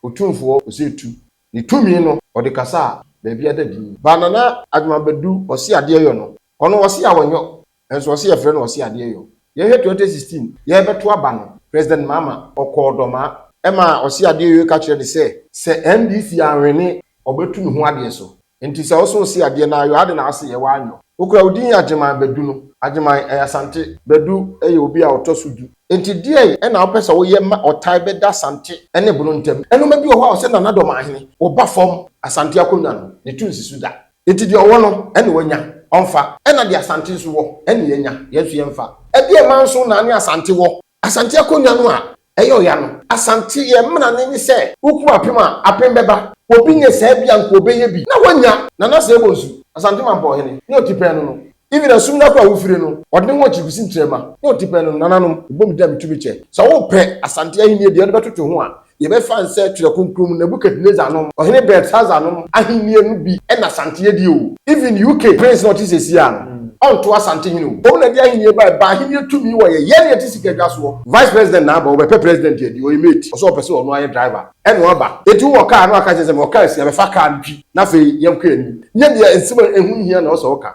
Otumfoɔ Osei Tuh ne tumi no ɔde kasa a baabi ada din. Ba Nana Adwuma Badu Ɔse Adeɛ Yɔ no ɔno ɔse a ɔnyɔ nso ɔse yɛfrɛ no Ɔse Adeɛ Yɔ yɛhwɛ twenty sixteen yɛbɛto aba no President Mahama ɔkɔɔ Dɔmaa ɛmaa Ɔse Adeɛ Yɔ yi ka kyerɛ ne sɛ sɛ NDC anwene ɔbɛtu ne ho adeɛ so. Nti sɛ ɔsõ si adeɛ na ayɔ ade na ase yɛ w'anyɔ. Okura odin yɛ Agyeman Badu no. Agyeman ɛyɛ Asante. Badu yɛ obi a ɔtɔ so du. Nti deɛn ɛna wopɛ sɛ woyɛ ma ɔtae bɛ da Asante ɛne Bono ntɛm? Ɛnoma bi wɔ hɔ a ɔsɛ Nana Dɔmahene ɔba fɔm Asante akonwa no ne to nsi so da. Nti deɛ ɔwɔ no ɛne wanya ɔnfa. Ɛna deɛ Asante nso wɔ ɛne yɛnya yɛn nso yɛnfa. Ɛdeɛ ɛma nso na ne Asante wɔ? Asante akonnwa no a ɛyɛ ɔya no. Asante yɛn mmara no ne sɛ wokum apem a, apem bɛba. Obi nyɛ saa bi a anka ɔbɛyɛ bi na wanya. Nana Asseah Bonsu, Asante Mampɔn hene, ne Otipɛn no no. Even ɛsom no akora a wofire no, ɔde ne ho akyiri kɔsi Ntrɛma ne Otipɛn no no nananom. Ɛbom da a metu me kyɛ. Sɛ wopɛ Asante ahennie deɛ wode bɛtoto ho a, Yɛbɛfa no sɛ Twerɛ Kronkron mu Nebuchadnezzar nom, Ɔhene Belshazzar nom ahennie no bi na Asante yɛ die o. Even UK Prince no a ɔte seesei ara no, ɔnto Asante hene o. Mmom na ɛde ahennie baeɛ, ɛbaa ahennie tumi wɔ yɛ yɛn a yɛte sika dwa soɔ. Vice President na aba, ɔbɛpɛ President adi, ɔyɛ mate, ɔsɛ ɔpɛ sɛ ɔno ara yɛ driver, ɛna ɔba. Enti wowɔ car a na waka akyerɛ sɛ mewɔ car nsia, bɛfa car no twi na afei yɛnkɔ yɛn anim. Nyɛ deɛ nsɛm a ɛho nhia na ɛwɔ sɛ woka.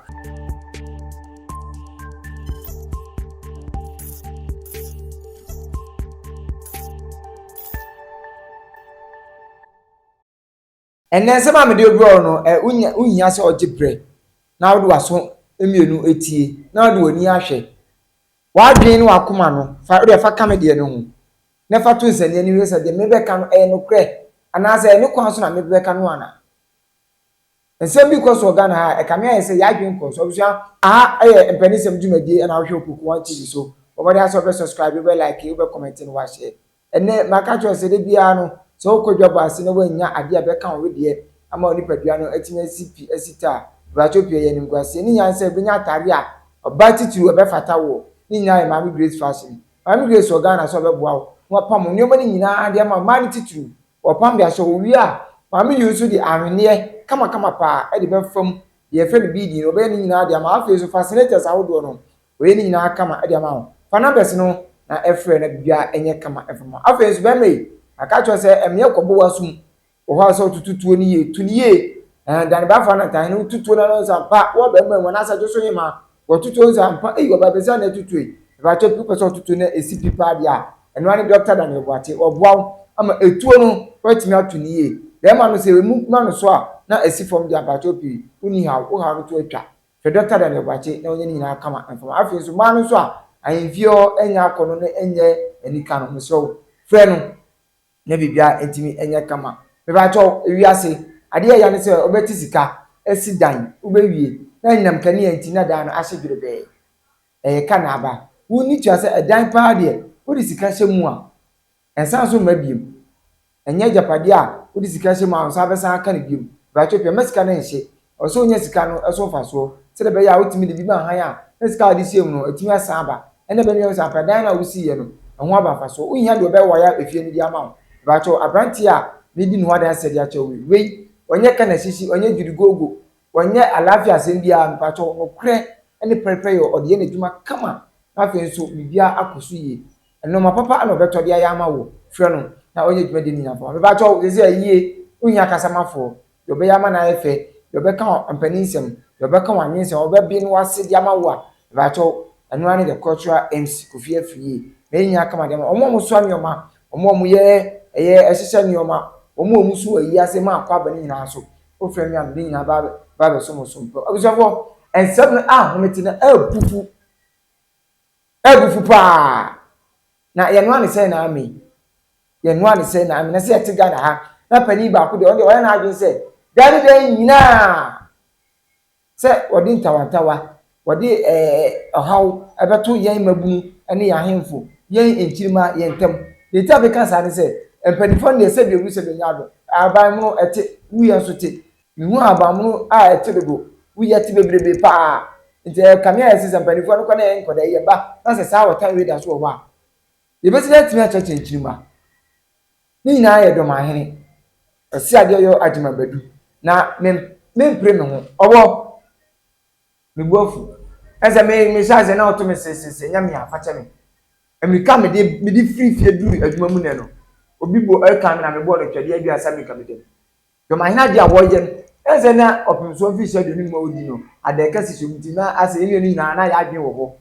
Ɛnnɛ nsɛm a mede rebrɛ wo no, ɛ wonya wohia sɛ ɔgye brɛ na wode w'aso mmienu etie na wode w'ani ahwɛ. W'adwene ne w'akoma no, fa wode fa ka me deɛ no ho na fa to nsania no hwɛ sɛ deɛ mebɛka no ɛyɛ nokorɛ anaasɛ ɛyɛ ne kwan so na mebɛka no ana. Nsɛm bi kɔ so wɔ Ghana ha a, ɛkame ayɛ sɛ y'adwene kɔ so. Abusua, aha yɛ Mpaninsɛm dwumadie ɛna wohwɛ wɔ Kuruku One TV so. Bɔ mmɔden ara sɛ wobɛ subscribe, wobɛ like, wobɛ comment na w'ashare. Ɛnnɛ, maka akyerɛ wo sɛ da biara no, sɛ wokɔ dwabɔ ase na woannya adeɛ a ɛbɛka wo wedeɛ ama wo nipadua no atumi asi pi asi ta a, Brakyɛw pii ɛyɛ animguaseɛ. Ne nyinaa ne sɛ wobɛnya atadeɛ a ɔbaa titiriw ɛbɛfata woɔ. Ne nyinaa yɛ Maame Grace Fashion. Maame Grace wɔ Ghana sɛ ɔbɛboa wo na wapam wo nneɛma no nyinaa de ama wo, mmaa no titiriw. Wɔpam de ahyɛ hɔ wie a, Maame Yu nso de ahweneɛ kamakama paa de bɛfa mu deɛ yɛfrɛ no beading no, ɔbɛyɛ ne nyinaa de ama. Afei nso fascinators ahodoɔ no, ɔyɛ ne nyinaa kama de ama wo. Fa numbers no na frɛ na biribiara nyɛ kama mfa ma wo. Afei nso bɛrima yi, maka akyerɛ wo sɛ ɛmmeɛ kɔbɔ w'asom wɔ hɔ a sɛ wototo tuo no yie, to no yie, ɛɛ Dane Bafo Anantahene, woto tuo no a na wo nsa mpa, wo a bɛrima yi wo nan asa dwo so hemmaa. Wɔtoto nsa ampa ei ɔbaa bɛsi a na ɛtoto ei ɛbɛakyɛ bi wopɛ sɛ ɔtoto na ɛsi pi paa deɛ a ɛno ara ne Doctor Daniel Boakye ɔboa wo ama ɛtuo no woatumi ato no yie bɛɛma no sɛ ɛmu ma no so a na ɛsi fam deɛ a mpakyɛw pii wonni haw wo haw no to atwa frɛ Doctor Daniel Boakye na ɔnyɛ ne nyinaa kama mfama afei nso mmaa no nso a ahemfie hɔ ɛnyɛ akɔnɔ no ɛnyɛ anika no mesrɛ wo frɛ no na biribiara ntumi nyɛ kama. Mepakyɛw, wiase, ade a ɛyɛ ne sɛ wɔbɛte sika, asi dan, wobewie, na anyinam kanea nti na dan no ahye dwerebɛɛ. Ɛyɛ ka na aba. Wunni tua sɛ ɛdan paa deɛ, wode sika hyɛ mu a, ɛnsan so mma bio. Ɛnyɛ agyapade a wode sika hyɛ mu a wo nsa bɛsan aka no bio. Mepakyɛw, pɛ mma sika no nhye, Ɔwɔ sɛ onya sika no so mfasoɔ sɛdeɛ ɛbɛyɛ a wotumi de bi ma hann a na sika a wɔde siam no atumi asan aba. Ɛnna ɛbɛma yɛahu sɛ ampa dan no a wosiiɛ no, ɛho aba mfasoɔ. Wonhia deɛ wɔbɛwaya efie no de ama wo. Mepakyɛw, aberanteɛ a meredi ne ho adanseɛ de akyerɛ wo yi, wei, ɔnyɛ kanasisi, ɔnyɛ gyidiguoguo, ɔnyɛ alaafee asɛm biara, mepakyɛw, nokorɛ ne pɛrepɛyɛ, ɔde yɛ n'adwuma kama, na afei nso biribiara akɔ so yie. Nnoɔma papa na ɔbɛtɔ de ayɛ ama wo. Frɛ no na ɔnyɛ dwumadie no nyinaa mfa ma wo. Mepakyɛw, seesei ayie, wonhia kasamafoɔ. deɛ ɔbɛyɛ ama no ayɛ fɛ, deɛ ɔbɛka mpanin nsɛm, deɛ ɔbɛka wɔn anwene nsɛm, ɔbɛbie ne w'ase de ama wo a, mepakyɛw, ɛno ara ne the cultural MC Kofi Afriyie. Mɛyɛ nyinaa aka ma de ama wɔn a wɔsoa nneɛma, wɔn a wɔyɛ ɛyɛ ɛhyehyɛ nneɛma, wɔn a wɔso ayi ase ma akwaaba no nyinaa so. Wofrɛ me a, mede nyinaa ba abɛ ba abɛso mo so. Abusuafoɔ, nsɛm no ahomete na abufu, abufu paa. Na yɛn noa ne sɛn na ame yi. Yɛn noa ne sɛn na ame. Na sɛ yɛte Ghana ha na panin baako deɛ ɔno deɛ wayɛ n'adwene sɛ daa ne daa nyinaa sɛ ɔde ntawantawa, ɔde ɛɛ ɔhaw ɛbɛto yɛn mmabunu ne yɛn ahemfo, yɛn nkyirimma, yɛn ntam. Deɛ nti a meka saa ne sɛ, mpaninfoɔ no deɛ sɛdeɛ ɛwu sɛdeɛ ɛnyɛ adom. Aban mono ɛte, wuyɛ nso te. Mihuu ahabanmono a ɛte dodo. Woi ɛte bebrebe paa. Nti ɛyɛ kanea a ɛsɛ sɛ mpaninfoɔ no kɔ na yɛn nkɔdaa yi yɛba na sɛ saa ɔtan wei da so wɔ hɔ a yɛbɛsi dɛn atumi akyerɛkyerɛ nkyirimma? Ne nyinaa yɛ Dɔmahene Ɔseadeɛyɔ Agyemang Badu na me mempere me ho. Ɔwɔ! Me bo afu. Ɛne sɛ me mehyɛ aseɛ na ɔto me sesese nyɛ me a fa kyɛ me. Mmirika a mede mede firi fie duru adwuma mu nnɛ no obi bɔ ɛkan me na mebɔɔ no twɛdeɛ aduasa mmirika meda mu. Dɔm ahene ade a wɔyɛ no, ɛne sɛ na ɔpemso mfirihyia aduonu num a odi no, adaka sisi wɔn ti, na asɛ yɛn nua no nyinaa na yɛn adwene wɔ hɔ.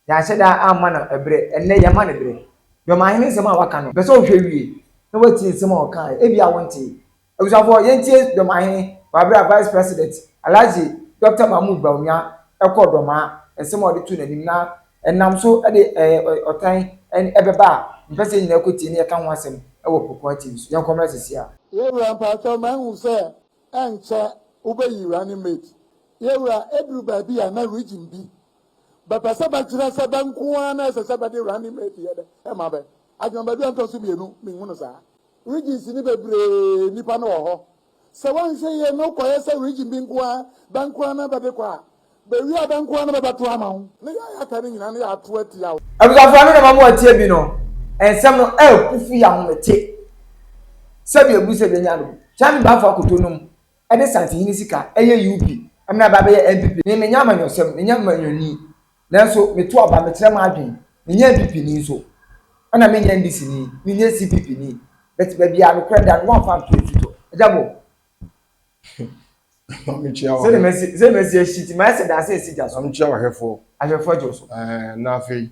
Yɛanhyɛ da amma no bere, ɛnnɛ yɛma no bere. Dɔm ahene nsɛm a waka no, mepɛ sɛ wohwɛ wie na woatie nsɛm a ɔkae, ebia wontee. Abusuafoɔ, yɛntie dɔm ahene wɔ bere a Vice President Alhaji Dɔkta Mahmood Bawumia kɔɔ Dɔmaa, nsɛm a ɔde too n'anim na Ɛnam so de ɔtan bɛba a, mpɛ sɛ yɛn nyinaa kɔ tie na yɛka ho asɛm wɔ kokoa TV so. Yɛnkɔ mmra sɛsi ara. Yɛwura mpakyɛw mahu sɛ ɛnkyɛ wobɛyi running mate yɛwura ɛduru baabi a na region bi bɛpɛ sɛ bɛkyerɛ sɛ bɛ nko ara na ɛsɛ sɛ bɛde running mate yɛ dɛ ma bɛ adwuma baabi a ntɔso mmienu menhunu saa regions no bebree nnipa no wɔ hɔ Sɛ wɔanhwɛ yie na ɔkɔyɛ sɛ region bi nko ara bɛnkoraa na bɛde kɔ a, bɛwie a bɛnkoraa na bɛbɛto ama wo. Ne yɛ a yɛaka no nyinaa no yɛato atia wo. Abusuafo ɛno na ɛma mo atie bi no nsɛm no ɛɛku firi ahomete sɛbi ɛbu sɛ bɛnya no bi Kyami Bafo akoto nom ɛde Santehene sika ɛyɛ UB ɛmena ɛba ɛbɛyɛ NPP ne menya amanyɔsɛm menya manyɔni Nanso meto aba, mekyerɛ m'adwen, menyɛ NPP ni nso, ɛna menyɛ NDC ni, menyɛ CPP ni, but baabi a nokorɛ da no woamfa anto afutuo. Agya Bo! Ma me kyia w'ahwɛfoɔ. Sɛ masi ahyi nti mayɛ sɛ daase a ɛsi gya so. Ma me kyia w'ahwɛfoɔ. Ahwɛfoɔ gye wo so. Ɛɛ, na afei?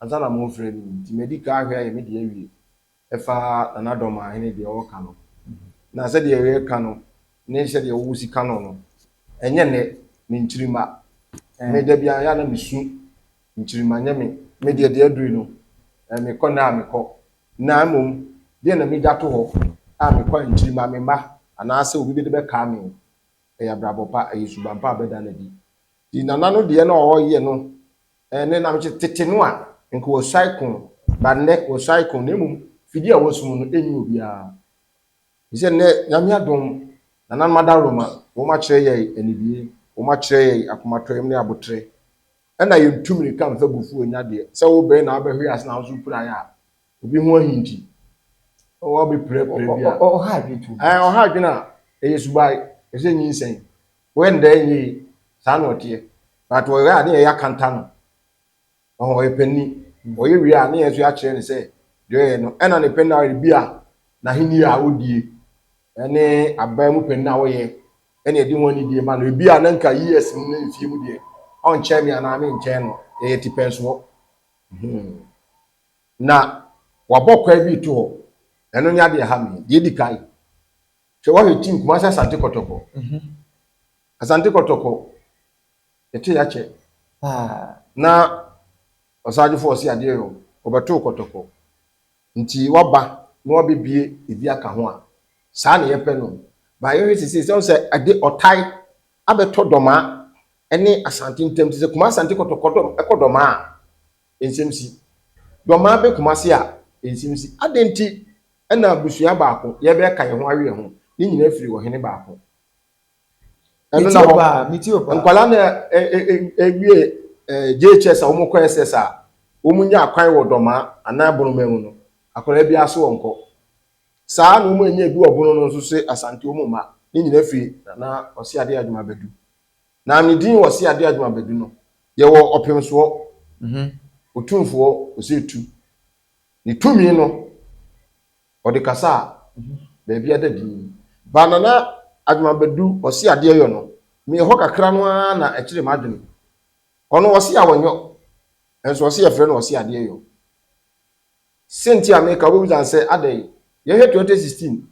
Ansa na morefrɛ me yi nti, madi kan ahwɛ ayɛ me deɛ awie. Ɛfa Nana Dormaa hene deɛ ɔreka no, na sɛdeɛ yɛreka no ne sɛdeɛ wo si ka no no, ɛnyɛ nnɛ, me nkyirimma. Me da biara ɛyɛ a na me su nkyirimma, nyɛ me. Me deɛ deɛ aduru no, me kɔ nnɛ a me kɔ. Na mmom, deɛ na me gya to hɔ a me kɔ a nkyirimma, me mma, anaa sɛ obi bɛde bɛkaa me o, ɛyɛ abrabɔ pa, ɛyɛ suban pa a bɛda no adi. Nti Nana no deɛ na ɔreyɛ no. Ɛnne nam te tete no a nka wɔsuae ko ba nnɛ wɔsuae ko na mmom fidie a wɔsum no ɛnyi obiara ɛfisɛ nnɛ Nyame adom nananom adaworoma wɔn akyerɛ yɛn anidie wɔn akyerɛ yɛn akomatɔyam ne aboterɛ ɛna yɛn tu mirika mfa gu fuo nya deɛ sɛ wo bɛn na wobɛhwe ase na wo nso pira yɛ a obi ho ahi nti wɔbɛpirapira bi a ɔha adwene a ɛyɛ subae ɛsɛ nyinsɛn. Wɔ ndɛ nye yi, saa na ɔtseɛ. But wɔ ɔyɛ a ne yɛyɛ akanta no, ɔho ɔyɛ pɛ ni. Ɔyɛ wie a ne yɛn so yɛakyerɛ no sɛ deɛ ɔyɛ no ɛna ne pɛ na bi a n'ahennie a ɔdie ɛne aban mu panin a ɔyɛ ɛne ɛde ho anidie ma no. Ebi a na nka years mu ne mfie mu deɛ ɔnkyɛn me anaa me nkyɛn no, yɛyɛ tipɛnsoɔ. Hmm. Na wabɔ kwae bi to hɔ. Ɛno nyɛ adeɛ ɛha me. Deɛ ɛdi kan, Hwɛ woahwɛ team Kumasi Asante Kɔtɔkɔ Asante Kɔtɔkɔ yɛte yakyɛ na ɔsagyefo ɔse adeɛ yɔ ɔbɛtoo kɔtɔkɔ nti waba na wabɛbie ebi aka ho a saa na yɛpɛ no ba yɛhwɛ sisi sɛ sɛ ɛde ɔtae abɛtɔ dɔmaa ɛne asante ntam sɛ Kumasi Asante Kɔtɔkɔ ɛkɔ dɔmaa a Nsɛm si. Dɔmaa bɛ koma ase a, nsɛm si. Adɛn nti na abusua baako, yɛbɛka yɛn ho awe yɛn ho, ne nyinaa firi ɔhene baako. Ɛno na hɔ. Nkwadaa no ɛwie JHS a wɔkɔ SS a, wɔn nya akwan wɔ dɔmaa anaa bonoma mu no, akwadaa bi ase wɔn kɔ. Saa na wɔn anya edu ɔbono no nso se Asante wɔn mma, ne nyinaa firi Nana Ɔseade Adwuma Badu. Na ne din wɔ se ade adwuma badu no, yɛwɔ ɔpemsoɔ, otumfoɔ, ɔsɛ etu. Ne tumi no, ɔde kasa a baabi ada dinn. Ba Nana adwuma badu ɔse adeɛ yɔ no, meyɛ hɔ kakra no ara na ɛkyere m'adwene. Ɔno ɔse awɔ nyɔ, nso ɔse yɛfrɛ no ɔse adeɛ yɔ. Se nti a meka, wobɛbisa no sɛ adɛn? Yɛnhwɛ 2016.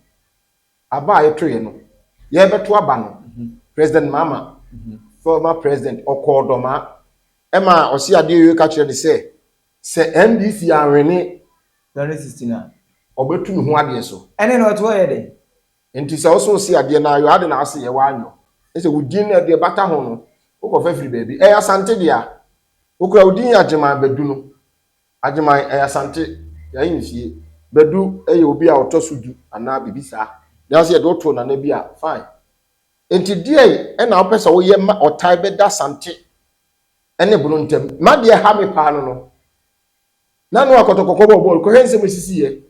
Aba a yɛtoeɛ no, yɛrebɛto aba no, President Mahama, former president, ɔkɔɔ Dormaa, ɛma ɔse adeɛ Yoweri ka kyerɛɛ no sɛ, sɛ NDC anwene, 2016 a, ɔbɛtu ne ho adeɛ so. Ɛnɛ na ɔtoɔ yɛ dɛn? Nti sɛ woso se adeɛ na ayɔ ade na ase yɛ waa nyɔ ne sɛ wo din na deɛ bata ho no wokɔ fa firi baabi ɛyɛ Asante dea wokura wo din yɛ Agyeman Badu no Agyeman yɛ Asante, Yayi ne fie. Badu yɛ obi a ɔtɔ so du anaa biribi saa. Nanso yɛde wo too Nana bi a, fine. Enti deɛn na wopɛ sɛ woyɛ ma ɔtan bɛda Asante ne Bono ntam? Ma deɛ ɛha me paa no no, na Noah Kɔtɔkɔkɔ bɔ bɔɔl. Kɔhwɛ nsɛm a ɛsisiiɛ.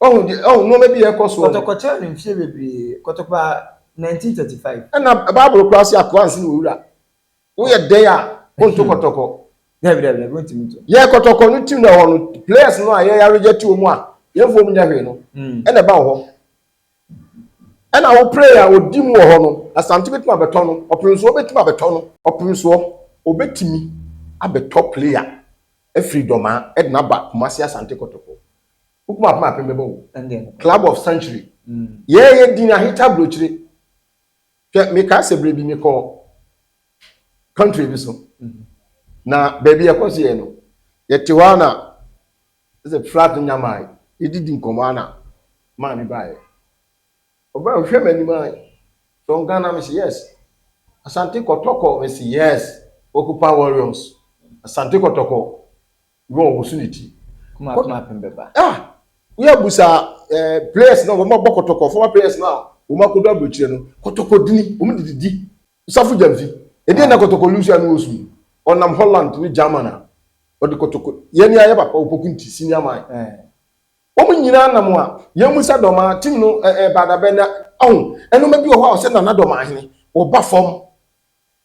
Wahu deɛ, wahu nneɛma bi a ɛrekɔ soɔ no. Kɔtɔkɔ kyɛn no mfeɛ bebree. Kɔtɔkɔ baa 1935. Ɛnna Bible koraa se, Akoa nse na ɔwura. Woyɛ dɛn a wonto kɔtɔkɔ? Dabi dabi dabi wontumi nto. Yɛ kɔtɔkɔ no tim na ɛhɔ no players no a yɛn aregye to mu a yɛn fom nyɛ hwee no ɛna ɛba wɔ hɔ. Ɛna wo player a odi mu wɔ hɔ no Asante betumi abɛtɔ no, Ɔpemsoɔ betumi abɛtɔ no. Ɔpemsoɔ obetumi abɛtɔ player afiri Dɔmaa ɛde no aba Kumasi Asante kɔtɔkɔ. Wo kumaapem apem bɛbɔ wo. Ɛndeɛ nokorɛ. Club of century. Yɛɛyɛ din aheta aburokyire. Hwɛ, mekae sɛ berɛ bi mekɔɔ country bi so, na baabi a ɛkɔ so yɛ no, yɛte hɔ a na sɛ flat no nyamae, yɛdidi nkɔmmɔ a na maa bi baeɛ. Ɔbaa ɔhwɛ m'anim a, from Ghana? Mese yes. Asante Kɔtɔkɔ? Mese yes. Okupa Warriors, Asante Kɔtɔkɔ. Wo a ɔwoso ne ti. Kuma apem apem bɛba. Ah! Wo a busa eh, players no a wɔn abɔ kɔtɔkɔ, former players no a wɔn akɔdɔ aburokyire no, kɔtɔkɔ dini, wɔn de didi, safo gyamfi. Ɛdeɛn na kɔtɔkɔ Lucy ano ɔsu yi? Ɔnam Holland ne German a, ɔde kɔtɔkɔ, yɛn ni ayɛ papa, Opoku nti, senior man. Eh. Wɔn nyinaa nam a, yɛn musa Dɔmaa, team no eh eh Baadabɛ na, ahu, nnoɔma bi wɔ hɔ a ɔsɛ Nana Dɔmaahene, wɔba fam.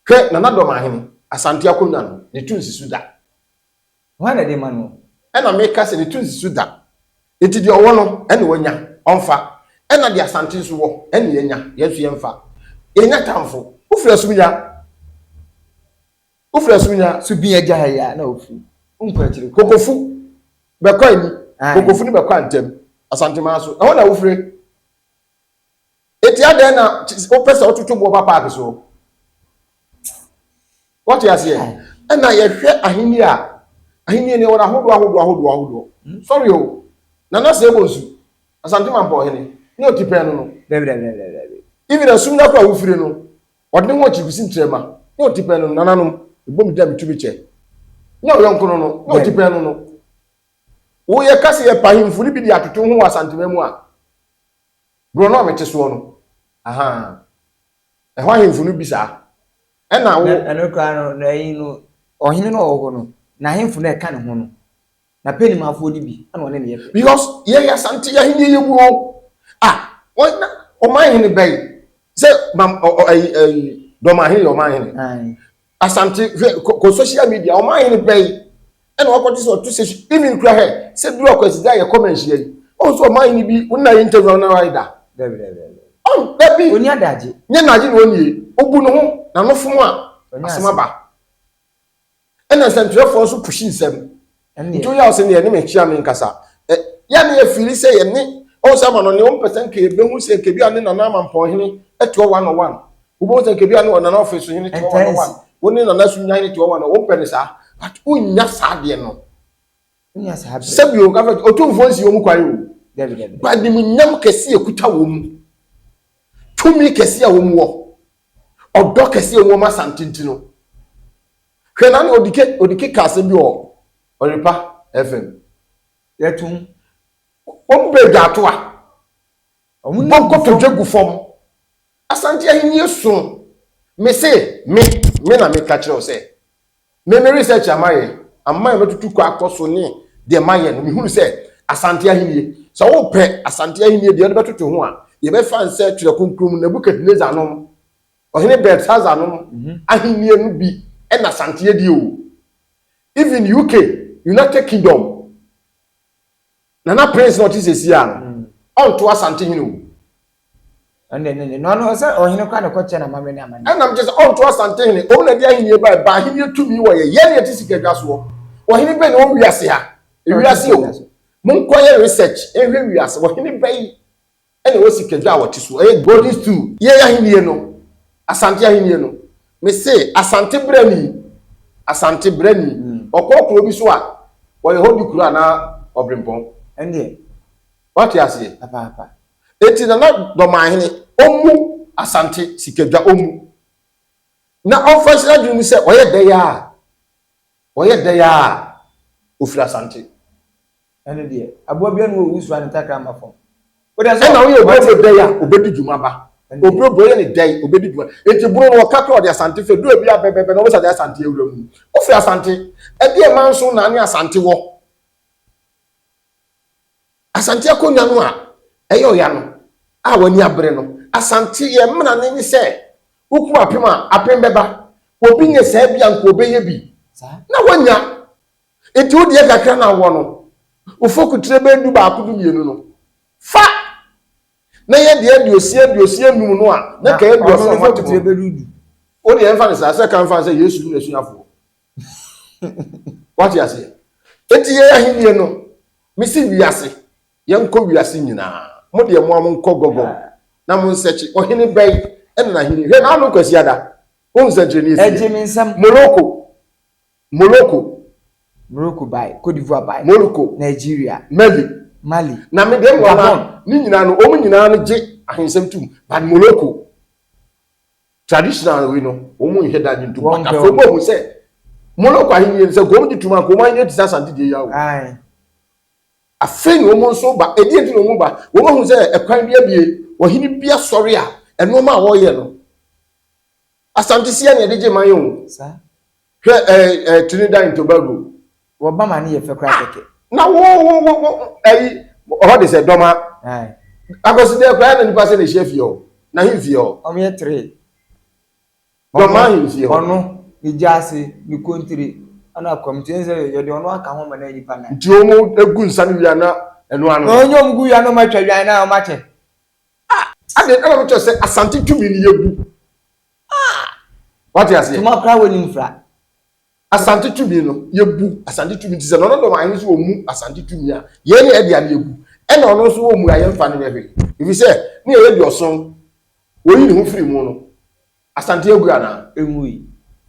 Hwɛ, Nana Dɔmaahene, Asante Akonwa no, ne to nsi so da. Hwan na ɛde ma no? Ɛna meka sɛ, Netu nsi so da. Enti deɛ ɔwɔ no, ɛna wanya, ɔmfa. Ɛna deɛ asante nso wɔ, ɛna yɛanya, yɛn nso yɛmfa. Yɛnnya atamfo. Wofiri asumnya, wofiri asumnya. So bi agya ha yi a, na wofiri, wonkɔ akyire kɔ. Kokofu bɛkɔ ani, Kokofu no bɛkɔ antam, Asanteman so, ɛhɔ na wofiri. Eti adɛn na wopɛ sɛ wototo boɔ ba paake soɔ? Wɔte aseɛ? Ɛna yɛhwɛ ahenni a ahenni ne wɔn ahodoɔ ahodoɔ ahodoɔ ahodoɔ. Hmm? Sɔre o, nana sɛ ɛbɔ nsu, asante ma mpɔhene ne otipɛn no no. Dɛbidɛbidɛbidɛbi. Even asum no akora wofiri no, ɔde ne ho akyi kusi ntrɛma ne otipɛn no nananom. Ɛbɔ mu da metu me kyɛ. Ne ɔyɔnko no no ne otipɛn no no. Woyɛ ka sɛ yɛpa ahemfo no bi de atoto ho wɔ asantema mu a. Borɔno a mete soɔ no, ahaa, ɛhɔ ahemfo no bi saa. Ɛnna wo. Na ɛno koraa no, na ayi no, ɔhene no a ɔwɔ hɔ no, n'ahemfo no a ɛka ne ho no, na Penimafoɔ no bi, ɛnna ɔne no yɛ pɛ. Because yɛyɛ Asante ahennie yɛ wuo. Ah, wɔn na ɔman hene bɛn sɛ mam ɔ ɔ ayi ayi dɔmahene yɛ ɔman hene. Aye. Asante hwɛ kɔ kɔ social media ɔmo ayɛ no bɛyi ɛna wakɔte sɛ ɔto station even kura hɛ sɛ duru akwasi da yɛ kɔma nhyia yi ɔn sɛ ɔmo ayɛ no bi wona yɛ interview ɔna ayɛ da dɛbi dɛbi ɔn dɛbi ɔni adagye nyɛ n'agye na ɔnie obu ne ho na no fom a asɛm aba ɛna nsɛntwerɛfoɔ nso pushi nsɛm Nti woyaw sɛ nea ɛne me nhyia no nkasa. Ɛ, yɛ a na yɛfili sɛ yɛne, oh, sɛ Amanɔne, wompɛ sɛ nka yɛbɛhu sɛ nka ebia ne Nana Amanpɔnhene toa one on one. Wobɛhu sɛ nka ebia ne Ɔnana Ɔfesohene toa one on one. Wo ne Nana Sunyahene toa one on one. Wompɛ no saa. But wonnya saa adeɛ no. Wonnya saa adeɛ. Sɛbi o, nka fɛ, otumfoɔ nsi wɔn kwan o. Dabi, dabi. Ba animuonyam kɛse a ɛkuta wɔn mu, tumi kɛse a wɔn wɔ, ɔdɔ kɛse a wɔn wɔ ma Asante nti no, Hwɛ na na odike odike ka asɛm bi wɔ Ɔrepa FM. Yɛtum wɔn bɛ gya ato a. Wɔn bɔ kɔtɔ dwa gu fam. Asante ahenni so me se me me na me ka kyerɛ sɛ me me research ama yɛ ama yɛ mɛtutu kɔ akɔ so ne deɛ ma yɛ no me hunu sɛ asante ahenni sɛ wo pɛ asante ahenni deɛ ɔde bɛtoto ho a yɛbɛfa nsɛ twerɛ kronkron mu Nebuchadnezzar nom Ɔhene Belshazzar nom ahennie no bi na santeɛ die o even UK United Kingdom Nana Prince na ɔte sesie a no ɔnto Asante hene o. Ɛno deɛ ɛnyɛ yie. Na ɔno sɛ ɔhene koraa na ɛkɔkyɛ no amammerɛ ne amanneɛ. Ɛnam kyerɛ sɛ ɔnto Asante hene. Wɔn na ɛde ahennie baeɛ. Ɛbaa ahennie tumi wɔ yɛ. Yɛn na yɛte sika dwa soɔ. Ɔhene bɛn na ɔwɔ wiase ha? Ewiase o. Monkɔyɛ research nhwɛ wiase. Ɔhene bɛn? ɛna ɛwɔ sikadwa a wɔte so ɛyɛ golden stool yei ahennie no asante ahennie no mese asante brani asante brani ɔkɔ hmm. kuro bi so a wɔyɛ hɔ di kuro anaa ɔbrempɔn ɛneɛ wate aseɛ papaapa eti nana dɔmahene ɔmu asante sikadwa ɔmu na ɔmfa nhyira dwene mu sɛ ɔyɛ dɛyɛ a ɔyɛ dɛyɛ a ɔfiri asante Ɛno deɛ, aboa biara nni hɔ a ɔwusu a ne ntakra mma fam. Wode nso Ɛna woyɛ ɔbrɛ ɔbrɛ dɛ a, ɔbɛdi dwuma ba. Ɔbrɛ ɔbrɛ yɛ ne dɛ, ɔbɛdi dwuma. Enti bono no wɔka koraa ɔde Asante frɛ. Duru abia bɛ bɛ bɛ na wɔbɛsa de Asante awura mu. Wofiri Asante? Ɛdeɛ Manso na ne Asante wɔ. Asante akonnwa no a ɛyɛ ɔya no a w'ani abere no. Asante yɛn mmara no ne sɛ wokum apem a, apem bɛba. Obi nyɛ saa bi a nka ɔbɛyɛ bi na wanya. Enti wo deɛ kakra na wowɔ no, wo fokutire bɛyɛ dubaako dumienu no, fa na yɛ deɛ aduosia aduosia nnum no a na ka aduɔson a moate mu no. Wo deɛ mfa no saa, sɛ ka mfa no sɛ Yesu ne n'asuafoɔ. Woate aseɛ? Enti yɛn ahennie no, mese wiase, yɛnkɔ wiase nyinaa. Mo deɛ mo a monkɔ Gɔgɔg na monsɛkye, ɔhene bɛn na n'ahennie? Hwɛ, na ano Kwasiada, wohu sɛnkyerɛnneɛ si yɛ? Moroko, Moroko. Moroko bae, Côte d'Ivoire bae. Moroko. Nigeria. Mali. Mali. Na me deɛ mmoa ma ne nyinaa no wɔn nyinaa no gye ahensɛm tom but Moroko traditional wei no wɔn nhwɛ da gye ntom but afei wɔn ahu sɛ Moroko ahenni no sɛ nka wɔn gye tom a nka wɔn ahenni te sɛ asante deɛ yi awo. Aye. afei na wɔn nso ba ɛdi ɛdi na wɔn ba wɔn ahu sɛ ɛkwan bi abie ɔhene bi asɔre a ɛnoɔma a wɔyɛ no asanteseɛ na ɛde gye man yɛ o. Saa. Hwɛ ɛɛ ɛɛ Trinidad and Tobago. Wɔ ba ma ne yɛ fɛ kura kɛkɛ. Na wo wo wo wo ɛyi ɔhɔ de sɛ dɔma. Ayi. Akɔsi dɛ kura na nipa sɛ na ehyia fie hɔ na hin fie hɔ. Ɔmo yɛ three. Dɔma hin fie hɔ. Ɔno, ne gyaase, ne kontire, ɛna akwam nti ɛn sɛ yɛde ɔno aka ho ma na nipa nan. Nti ɔmo egu nsa no wia na ɛno ano. Ɔnyɛ ɔmo gu wia na ɔmo atwa wia na ɔmo akyɛ. Ah! Adeɛ ɛna ɔmo kyerɛ sɛ Asante tumi no yɛ gu. Ah! Wate aseɛ? Tuma koraa wɔ nim fra. Asante tumi no, yɛbu Asante tumi ti sɛ nɔnɔ dɔm ahene so wɔ mu Asante tumi a yɛn ne ɛde ano yɛbu ɛna ɔno nso wɔ mu a yɛmfa no yɛ hwee. Ɛfiri sɛ ne ɛyɛ deɛ ɔsom wɔyi ne ho firi mu no Asante agu anaa? Ɛngui.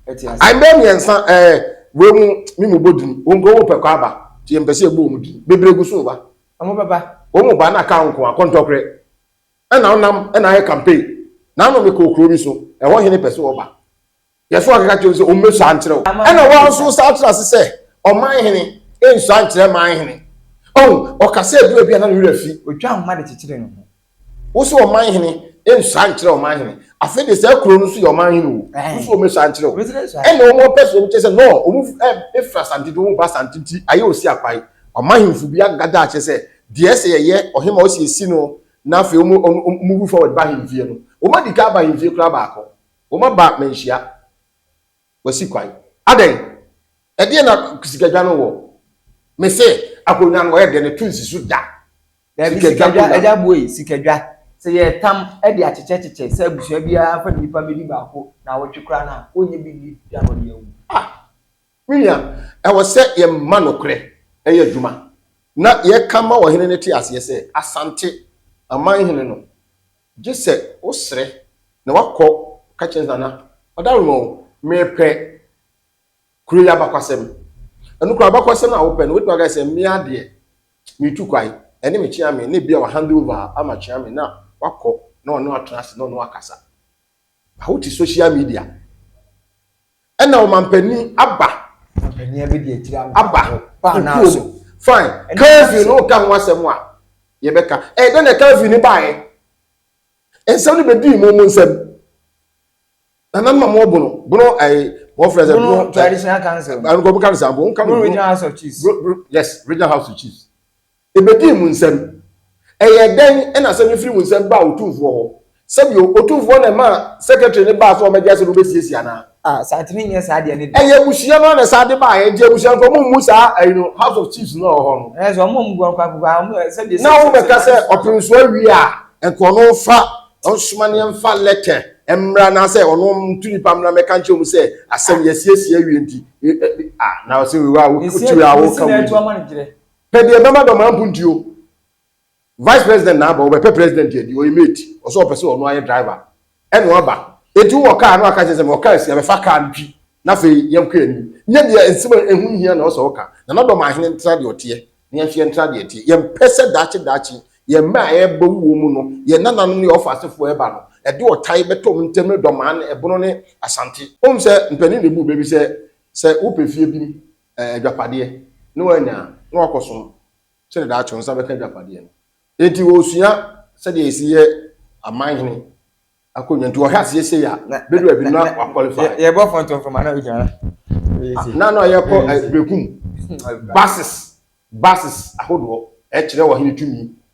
Ɛte aseɛ. Ayi bɛyɛ mmiɛnsa ɛɛ wei mu me mu bɔ din wɔn nkɔ wɔn pɛ kɔ aba nti yɛmpɛ sɛ yɛbɔ wɔn din bebree gu so ba. Wɔn bɛba. Wɔn ba na ka nko a kɔntɔkorɛ. Ɛna ɔnam ɛna ayɛ campaign na ama me kɔ kuro bi so ɛhɔ hene pɛ sɛ ɔba yɛ so akeka kyerɛ sɛ ɔmmɛ sua nkyerɛ wo ɛna wɔn nso saa tra ase sɛ ɔman hene ɛnsua nkyerɛ man hene ɔhu ɔka sɛ ɛduru ɛbi a na ne werɛ fi ɔtwa ahoma de kyekyere ne ho. Wo sɛ ɔman hene ɛnsua nkyerɛ ɔman hene afei deɛ saa kuro no nso yɛ ɔman hene o wo sɛ ɔmmɛ sua nkyerɛ wo ɛna wɔn ɔpɛ sɛ wɔn kyerɛ sɛ nɔɔ wɔn ɛfiri asante de wɔn ba asante nti ayɛ ɔsi akwae ɔman hemfo bi agada akyerɛ sɛ Deɛ ɛsɛ yɛyɛ, Ɔhema ɔsiesi no na afei ɔmo ɔmo ɔmo move forward ba ahemfie no. Ɔmo adikan aba ahemfie koraa baako. Ɔmo aba manhyia. Wasi kwan. Adɛn? Ɛdeɛn na sikadwa no wɔ? Mese akonnwa no ɔyɛ dɛn? Ɛto nsi so da. Daabi, Sikadwa sikadwa, akonnwa no. Agya Boe, sikadwa. Sɛ yɛretam de akyekyɛkyekyɛ sɛ abusua biara mfa nnipa mmɛdi baako nnawɔtwe koraa no a, wɔnnyɛ bi nni da na ɔde awu. Ah! Me nua, ɛwɔ sɛ yɛma nokorɛ yɛ adwuma, na yɛka ma ɔhene no te aseɛ sɛ, Asante aman hene no, gye sɛ wosrɛ na woakɔ ka kyerɛ Nana Adaworoma o, merepɛ kuro yi abakwasɛm. Ɛno koraa, abakwasɛm a wopɛ no, wobɛtumi aka sɛ, Me ara deɛ, meretu kwan, ɛne me Kyeame a, na ebia wahand over ama Kyeame na wakɔ na ɔne wo atena ase na ɔne wo akasa. Wote social media. ɛna ɔmampanin aba ɔmampanin bi de akyire aba kukuo mu fine calvin no ka ho asɛm a yɛbɛka ɛyɛ dɛ na calvin ne baeɛ nsɛm no bɛdii mu mu nsɛm nana no ma mo bono bono ɛyɛ wɔn fɛ sɛ bono traditional council ɛnukɔ mo ka no sɛ aboɔ nka no regional house of chiefs yes regional house of chiefs Ebedii mo nsam. Ɛyɛɛ dɛn na asɛm no firi mo nsam baa Otumfoɔ hɔ? Sɛbio, Otumfoɔ na ɛmaa Secretary no baa sɛ ɔmmɛgye asɛm no bɛsiesie anaa? Ah, saa tumi nyɛ saa deɛ no da. Ɛyɛ abusua no ara na saa de baeɛ, enti abusuafoɔ mo mmu saa ayi no, House of Chiefs no a ɛwɔ hɔ no. Ɛyɛ sɛ wɔn mmoa nkwa kuku a wɔn sɛbio sɛbio sɛbio. Na wɔn bɛka sɛ ɔpenso awie a, nka ɔno mfa nsoma ne mfa lɛtɛ mmra anaasɛ ɔno ntu nipa mmra mmɛka nkyerɛ wɔn sɛ asɛm yɛasiesie awie nti, ah, na ɔsɛ wei a, wokyi wei a, woka wei. Pɛ deɛ ɛbɛma dɔm ampunti o. Vice president na aba, ɔbɛpɛ president adi, ɔyɛ mate, ɔsɛ ɔpɛ sɛ ɔno ayɛ driver, ɛna waba. Enti wowɔ car na waka kyerɛ sɛ mewɔ car si a, bɛfa car no twi na afei yɛnkɔ yɛn anim. Nyɛ deɛ nsɛm a ɛho nhia na ɔsɛ ɔka. Nana Dɔm ahene ntra deɛ ɔteɛ na yɛnso yɛntra deɛ ɛteɛ. Yɛmpɛ sɛ daakye daakye yɛn mma a ɛreba wuo mu no, yɛn nananom ne yɛn ɔfa asefoɔ ɛreba no, ɛde ɔtae bɛtɔ ɔmo ntɛm ne Dɔm ahene, Ɛbono ne Asante. Wonim sɛ mpanin na ɛbu bɛ bi sɛ, sɛ wopɛ fie bi eh, adwapadeɛ na wanya a, na wakɔsom sɛdeɛ daakye wo nsa bɛka adwapadeɛ no. Enti ɔresua sɛdeɛ ɛsi yɛ aman hene akonnwa nti ɔhwɛ aseɛ sei a bɛdu abi na wakwalify. Yɛbɔ fɔntom fam ana ɔdwara. Na na yɛkɔ eh, bekum bases bases ahodoɔ ɛkyerɛ ɔhene tumi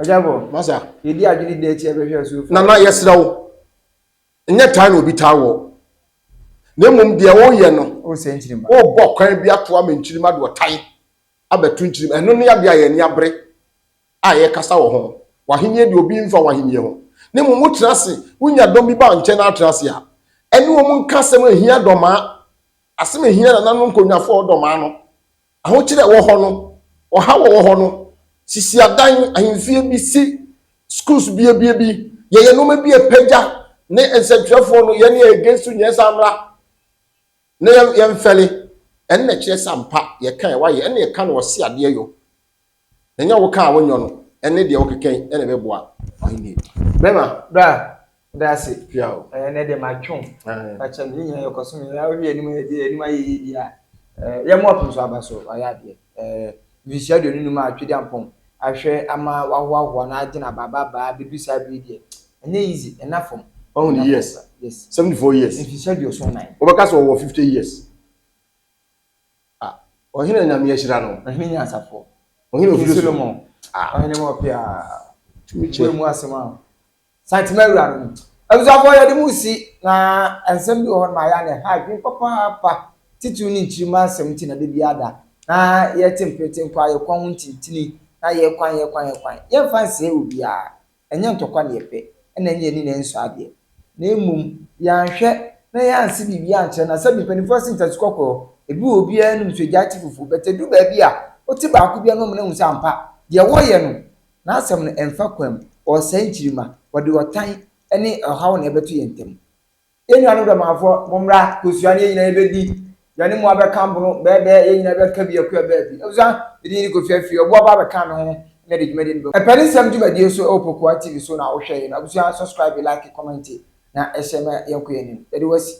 Ɔjabɔ. Masa. Yɛdi adwene dɛ ti ɛbɛhwɛ asuofoɔ. Nana yɛsrɛ wo nyɛ taa na obi taa wɔ na mmom deɛ woyɛ no wosɛ nkyirim wobɔ kwan bi ato ama nkyirim ade ɔtan abɛto nkyirim ɛno ne adeɛ a yɛn ani abere a yɛkasa wɔ ho w'ahenni deɛ obi mfa w'ahenni ho na mmom wotena ase wonya dɔm bi ba nkyɛn na atena ase a ɛne wɔn nka asɛm ɛhia dɔmaa asɛm ɛhia nananom nkonnwafoɔ dɔmaa no Ahokyere a ɛwɔ hɔ no, ɔhaw a ɛwɔ hɔ no, sisi adan, ahemfie bi, si schools biabia bi, yɛyɛ nneɛma bi a ɛpagya ne nsɛntwerɛfoɔ no, yɛne yɛ against nyɛ saa mmra na yɛmfɛle, ɛno na ɛkyerɛ sɛ ampa yɛka a ɛwɔ ayɛ, ɛna yɛka no ɔse adeɛ yɔ. Ɛnyɛ wo ka a wonyɔ no ɛne deɛ wokekan ɛna ɛbɛboa Ahennie bɛma. Bra da ase pia o. Ɛɛ nɛ de ma twe o. Ɛɛ. Fa kyɛ me yɛ nyina yɛ kɔ so me yɛ wohwɛ yɛ anim yɛ deɛ anim ayɛ yie deɛ a ɛɛ yɛ mop nso aba so wayɛ adeɛ ɛɛ mfirihyia aduonu num a Twedi Ampɔn ahwɛ ama wahoahoa na agye na ba ba baa bɛdu saa bere yi deɛ ɛnyɛ easy ɛna fam. Wahu ne years? Yes. Seventy four years. Mfirihyia aduoson nan. Wobɛka sɛ ɔwɔ fifty years. Ah. Ɔhene a Nyame ahyira no. Ɔhene nyansafoɔ. Ɔhene ofiri so. King Solomon. Ah. Ɔhene ma ɔpɛ a. Tumi kyɛ. Ɔbue mu asɛm a. Santema awura no. Abusuafoɔ yɛde mo resi na nsɛm bi wɔ hɔ nom a ɛyɛ a na ɛha adwene papaapa. Titiriw ne nkyirimma nsɛm nti na da biara da na yɛte mprete mpo a yɛkwan ho ntintini na yɛkwan yɛkwan yɛkwan. Yɛmfa nsɛe obiara. Ɛnyɛ ntɔkwa na yɛpɛ, ɛna ɛnyɛ ani na ɛnsɔ adeɛ, na mmom yɛanhwɛ na yɛanse biribi ankyerɛ no asɛm. Mpanimfoɔ ase ntasu kɔkorɔ, ebi wɔ hɔ obiara anim so agyae te fufuo, but ɛduru baabi a, wote baako bi anom na wohu sɛ ampa, deɛ wɔreyɛ no, n'asɛm no ɛmfa kwan mu, ɔresɛe nkyirimma, wɔde ɔtan ne ɔhaw na ɛbɛto yɛn ntam. Yɛn nuanom Dɔmanfoɔ, mommra, kosua ne yɛn nyinaa yɛbɛdi, yɛne mo abɛka mpono bɛɛbɛɛ, yɛn nyinaa bɛka bi akuo abaa bi. Abusua, mede Yini Kofi Afie, ɔboa ba abɛkaa me ho na yɛde dwumadie no bɛm. Ɛpɛ ne nsɛm dwumadie so ɛwɔ Pokuaa TV so na wohwɛ yɛ no. Abusua, subscribe, like, comment na ɛhyɛ ma yɛnkɔ yɛn anim. Yɛde wo asi.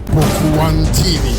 Pokuaa TV.